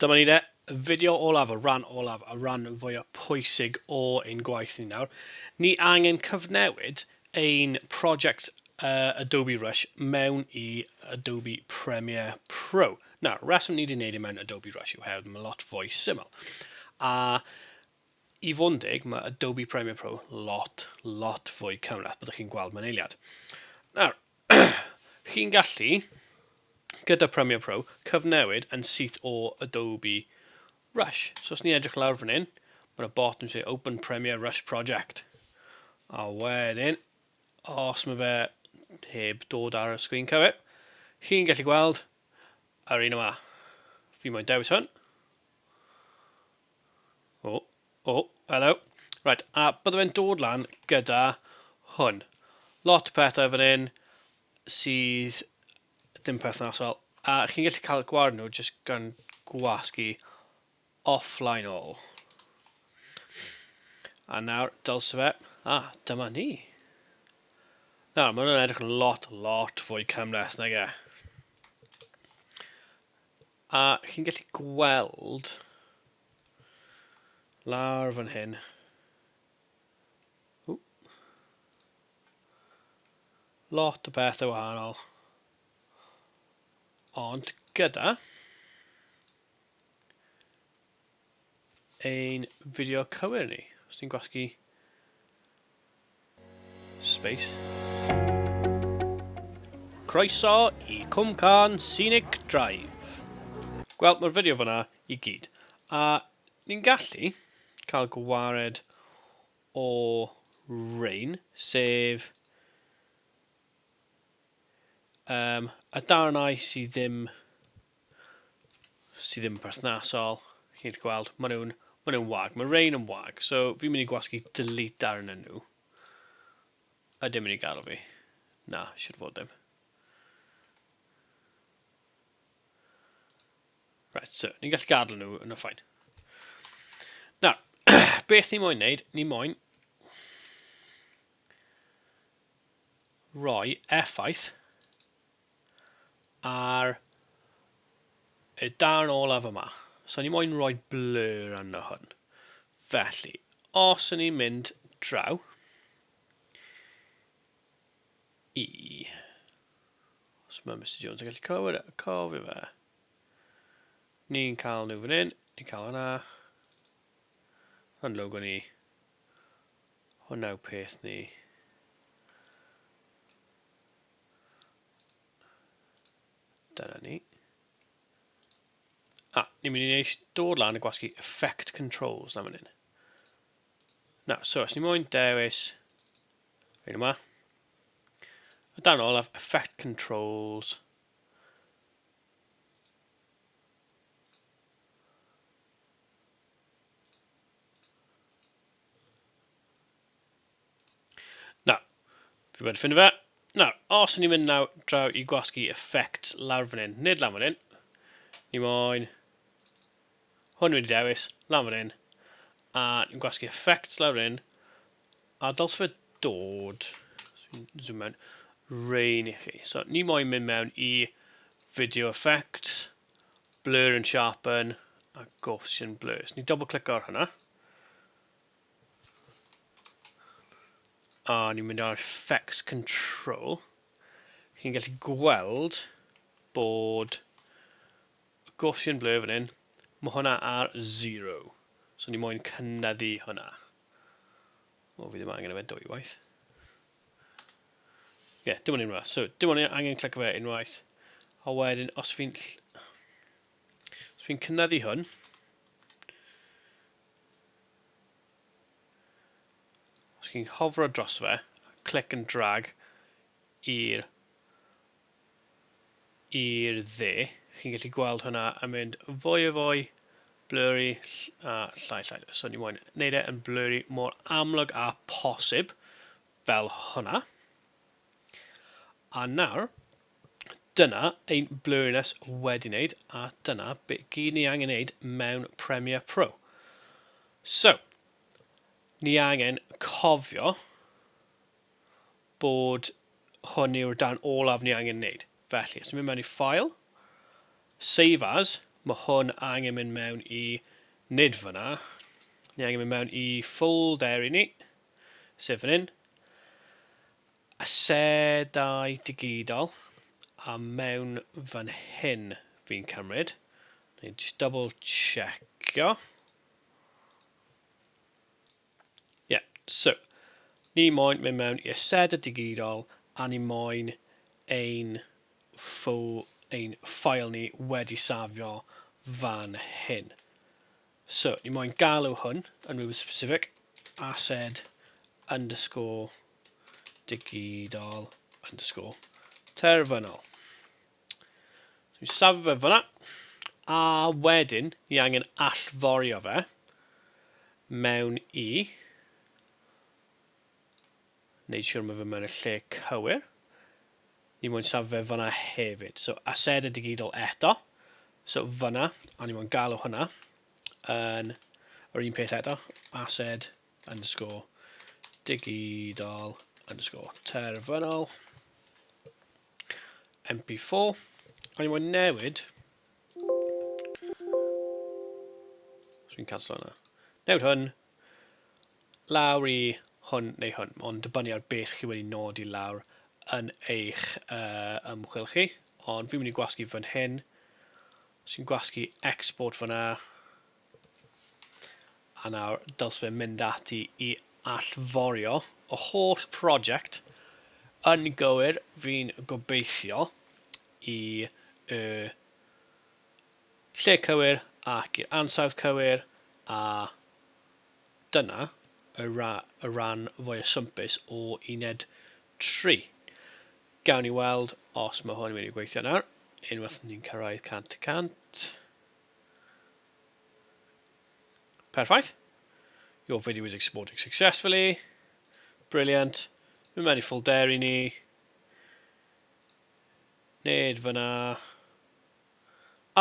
Dyma ni de, fideo olaf, y rhan olaf, y rhan fwyaf pwysig o ein gwaith ni nawr. Ni angen cyfnewid ein prosiect uh, Adobe Rush mewn i Adobe Premiere Pro. Na, reswm ni wedi gwneud e mewn Adobe Rush yw hel, mae'n lot fwy syml. A I fod yn deg, mae Adobe Premiere Pro lot, lot fwy cymhleth, byddwch chi'n gweld mewn eiliad. Nawr, chi'n gallu, gyda Premiere Pro, cyfnewid yn syth o Adobe Rush. So os ni'n edrych lawr fan hyn, mae yna bot yn dweud Open Premiere Rush Project. A wedyn, os mae fe heb dod ar y sgwyn cywir, chi'n gallu gweld yr un yma. Fi moyn dewis hwn. O, o, hello. Right, a bydde fe'n dod lan gyda hwn. Lot o pethau fan hyn sydd ddim perthnasol. A chi'n gallu cael gwared nhw jyst gan gwasgu offline all. A nawr, dylse fe. A, dyma ni. Nawr, mae hwnna'n edrych yn lot, lot fwy cymleth nag e. A chi'n gallu gweld lawr fan hyn. Ww. Lot o bethau wahanol. Ond gyda ein fideo cywir ni, os ni'n gwasgu space. Croeso i Cwmcarn Scenic Drive. Wel, mae'r fideo fyna i gyd. A ni'n gallu cael gwared o rain, sef um, y darnau sydd ddim sydd ddim yn perthnasol, chi'n gallu gweld, maen nhw'n ma nhw wag, mae rain yn wag, so fi'n mynd i gwasgu delete darn yn nhw. A dim mynd i gael fi. Na, siwr fod ddim. Right, so, ni'n gallu gadw nhw yn y ffain. Na, beth ni moyn wneud, ni moyn roi effaith ar y darn olaf yma. So ni moyn rhoi blur arno hwn. Felly, os yn ni'n mynd draw i... Os mae Mr Jones yn gallu cofio, e, cofio fe. Ni'n cael nhw fan hyn, ni'n cael hwnna. Hwn logo ni. Hwnna yw peth ni. Dyna ni. A, ni'n mynd i eich dod lan a gwasgu effect controls na fan hyn. Na, so, os ni moyn dewis hyn yma, a dan olaf effect controls, Nawr, fi wedi ffind fe. Nawr, os ni'n mynd nawr draw i gwasgu effect lawr fan hyn, nid lan fan hyn, ni moyn hwn wedi dewis, lan fan hyn, a ni'n gwasgu effect lawr fan hyn, a dyls fe dod, zoom mewn, rain i chi. So, ni moyn mynd mewn i video effect, blur and sharpen, a Gaussian blurs. Ni double click ar hwnna. A ni'n mynd ar effects control. Chi'n gallu gweld bod y Gaussian blur fan hyn, mae hwnna ar 0. So ni moyn cynyddu hwnna. O, fi ddim angen efe dwy waith. Ie, yeah, dim ond unwaith. So, dim ond angen clic fe unwaith. A wedyn, os fi'n... Os fi'n cynyddu hwn... Os chi'n hofro dros fe, click and drag i'r i'r dde, chi'n gallu gweld hwnna yn mynd fwy o fwy blurry a llai llai. So ni moyn wneud e yn blurry mor amlwg a posib fel hwnna. A nawr, Dyna ein blurriness wedi wneud a dyna be gyd ni angen wneud mewn Premiere Pro. So, ni angen cofio bod hwn yw'r darn olaf ni angen wneud. Felly, os ni'n mynd mewn i File, Save As, mae hwn angen mynd mewn i, nid fyna, ni angen mynd mewn i ffolderi ni, sef fan hyn, Asedau digidol a mewn fan hyn fi'n cymryd. Neu just double checkio. Yeah, so, ni moyn mynd mewn i asedau digidol a ni moyn ein, ffo, ein ffael ni wedi safio fan hyn. So, ni moyn galw hwn yn rhywbeth specific, ased underscore digidol underscore terfynol. So, ni'n safio fe fyna, a wedyn ni angen allforio fe mewn i neud siwr ma fe mewn y lle cywir. Ni moyn safo fe fyna hefyd. So aseda digidol eto. So fyna, a ni moyn galw hwnna yn yr un peth eto. Ased underscore digidol underscore terfynol mp4 a ni moyn newid so fi'n canslo hwnna newid hwn lawr i hwn neu hwn, ond dibynnu ar beth chi wedi nodi lawr yn eich uh, ymchwil chi, ond fi'n mynd i gwasgu fan hyn, sy'n gwasgu export fanna, a nawr dylse fe mynd ati i allforio y holl prosiect yn gywir fi'n gobeithio i y lle cywir ac i'r ansawdd cywir a dyna y rhan fwya swmpus o uned tri. Gawn ni weld os mae hwn wedi gweithio nawr, unwaith ni'n cyrraedd 100 y cant. Perffaith. Your video is exporting successfully. Brilliant. Mae mewn i ffolderi ni. Nid fyna.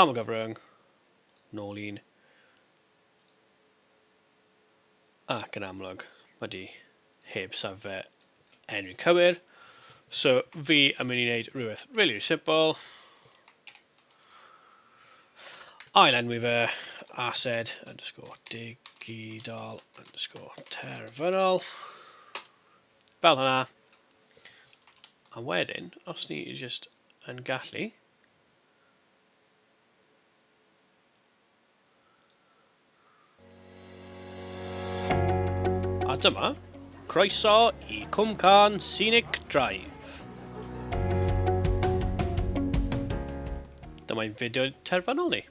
Aml gyfryng, nôl un. Ac yn amlwg, mae di heb safle enw cywir. So fi yn mynd i wneud rhywbeth really, really simple. Ail enwi fe ased underscore digidol underscore terfynol. Fel hynna. A wedyn, os ni just yn gallu, A dyma, croeso i Cwmcarn Scenic Drive. Dyma'n fideo terfynol ni.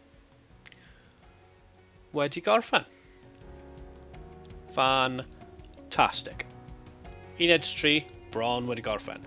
Wedi gorffen. Fantastic. Uned 3, bron wedi gorffen.